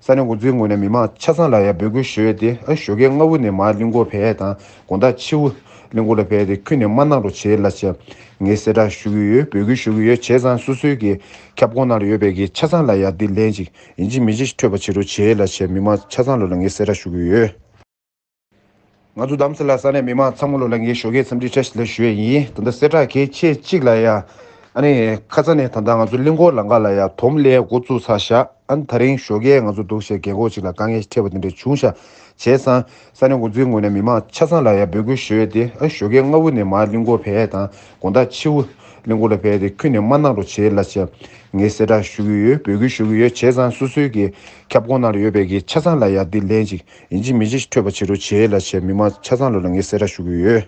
ས་གནས་འགོ་འཛིན་ངོས་ནས་མི་མང་ཆ་ཚང་ལ་ཡང་འབོད་སྐུལ་ཞུས་ཏེ་བཞོ་ཁའི་རྔ་བོ་ནས་མར་གླིང་སྐོར་བས་དང་དགོན་བདག་ཕྱི་དབུས་གླིང་སྐོར་ལ་བས་ཏེ་ཁུལ་ནས་མར་གནང་རོགས་བྱེད་ལ་ཆེད་ངས་གསལ་བསྒྲགས་ཞུ་གི་ཡོད་འབོད་སྐུལ་ཞུ་གི་ཡོད་བྱས་ཙང་སོ་སོའི་གི་ཁྱབ་ཁོངས་ནང་ལ་ཡོད་པའི་གི་ཆ་ཚང་ལ་ཡང་དེ་ལན་ཅིག་ཡིན་གཅིག་མིན་གཅིག་ཐོས་པ་བྱེད་རོགས་བྱེད་ལ་ཆེད་མི་མང་ཆ་ཚང་ལ་ལ་ངས་གསལ་བསྒྲགས་ཞུ་གི་ཡོད། ང་ཚོ་གདམ་གསེས་ལ་ས་གནས་མི་མང་ཚང་མ་ལོ་ལ་ངའི་ཞོགས་ཀའི་འཚམས་འདྲི་བཀྲ་ཤིས་ལ་ཞུ་ཡས་ཡིན་ད་ལྟ་གསལ་བསྒྲགས་གལ་ཆེ་གཅིག་ལ་ཡ་ཨ་ནི་ཁ་ཚ་ནས་ད་ལྟ་ང་ཚོ་གླིང་སྐོར་ལ་འགའ་ལ་ཡ་དོམ་གླས་འགོ་བཙུགས་ཚར་བཞག་ཨ་ནི་ད་རིང་ཞོགས་ཀའི་ང་ཚོ་འདུག་བྱས་རྒན་འཁོགས་གཅིག་ལ་དཀའ་ངལ་འཕྲད་པ་དེ་འདྲ་བྱུང་བཞག་བྱས་ཙང་ས་གནས་འགོ་འཛིན་ངོས་ནས་མི་མང་ཆ་ཚང་ལ་ཡ་འབོད་སྐུལ་ཞུ་ཡས་ཏེ་ཨ་ནི་ཞོགས་ཀའི་སྔ་བུ་ནས་མར་གླིང་སྐོར་བས་དང་དགོན་བདག་ཕྱི་བུ་གླིང་སྐོར་ལ་བས་ཏེ་ཁུལ་ནས་མར་གནང་རོགས་བྱས་ལ་བྱས་ངས་གསལ་བསྒྲགས་ཞུ་གི་ཡོད་འབོད་སྐུལ་ཞུ་གི་ཡོད་བྱས་ཙང་སོ་སོའི་གི་ཁྱབ་ཁོངས་ནང་ལ་ཡོད་པའི་གི་ཆ་ཚང་ལ་ཡ་འདི་ལན་གཅིག་ཡིན་གཅིག་མིན་གཅིག་ཐོས་པ་བྱེད་རོགས་བྱས་ལ་བྱས་མི་མང་ཆ་ཚང་ལོ་ལ་ངས་གསལ་བསྒྲགས་ཞུ་གི་ཡོད།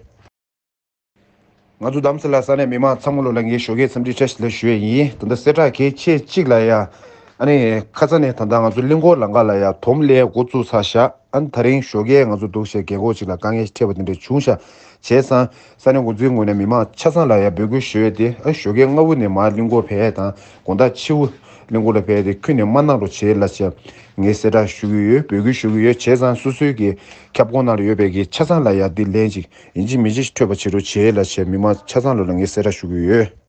ང་ཚོ་གདམ་ས་ལ་ས་གནས་མི་མང་ཚང་མ་ལོ་ལ་ངས་ཞོགས་ཀའི་འཚམས་འདྲི་ཕྲད་ལ་ཞུ་ཡས་ཡིན་ད་ལྟ་གསལ་བསྒྲགས་གལ་ཆེ་གཅིག་ལ་ཡ་ཨ་ནི་ཁ་ས་ནས་ད་ལྟ་ང་ཚོ་གླིང་སྐོར་ལ་འགའ་ལ་ཡ་དོམ་ལས་འགོ་བཙུགས་ཚར་ཤ་ཨ་ནི་ད་རིང་ཞོགས་ཀའི་ང་ཚོ་འདུག་བྱས་རྒས་འཁོགས་གཅིག་ལ་དཀའ་ངལ་ཕྲད་པ་དེ་འདྲ་བྱུང་ཤ་བྱས་ཙང་ས་གནས་འགོ་གཙོའི་ངོས་ནས་མི་མང་ཆ་ཚང་ལ་ཡང་འབོད་སྐུལ་ཞུས་ཏེ་བཞོ་ཁའི་རྔ་བོ་ནས་མར་གླིང་སྐོར་བས་དང་དགོན་བདག་ཆེ་བོ་གླིང་སྐོར་ལ་བས་ཏེ་ཁུལ་ནས་མར་གནང་རོགས་བྱེད་ལ་ཆེད་ངས་གསལ་བསྒྲགས་ཞུ་གི་ཡོད་འབོད་སྐུལ་ཞུ་གི་ཡོད་བྱས་ཙང་སོ་སོའི་གི་ཁྱབ་ཁོངས་ནང་ལ་ཡོད་པའི་གི་ཆ་ཚང་ལ་ཡང་དེ་ལན་ཅིག་ཡིན་གཅིག་མིན་གཅིག་ཐོས་པ་བྱེད་རོགས་བྱེད་ལ་ཆེད་མི་མང་ཆ་ཚང་ལ་ལ་ངས་གསལ་བསྒྲགས་ཞུ་གི་ཡོད།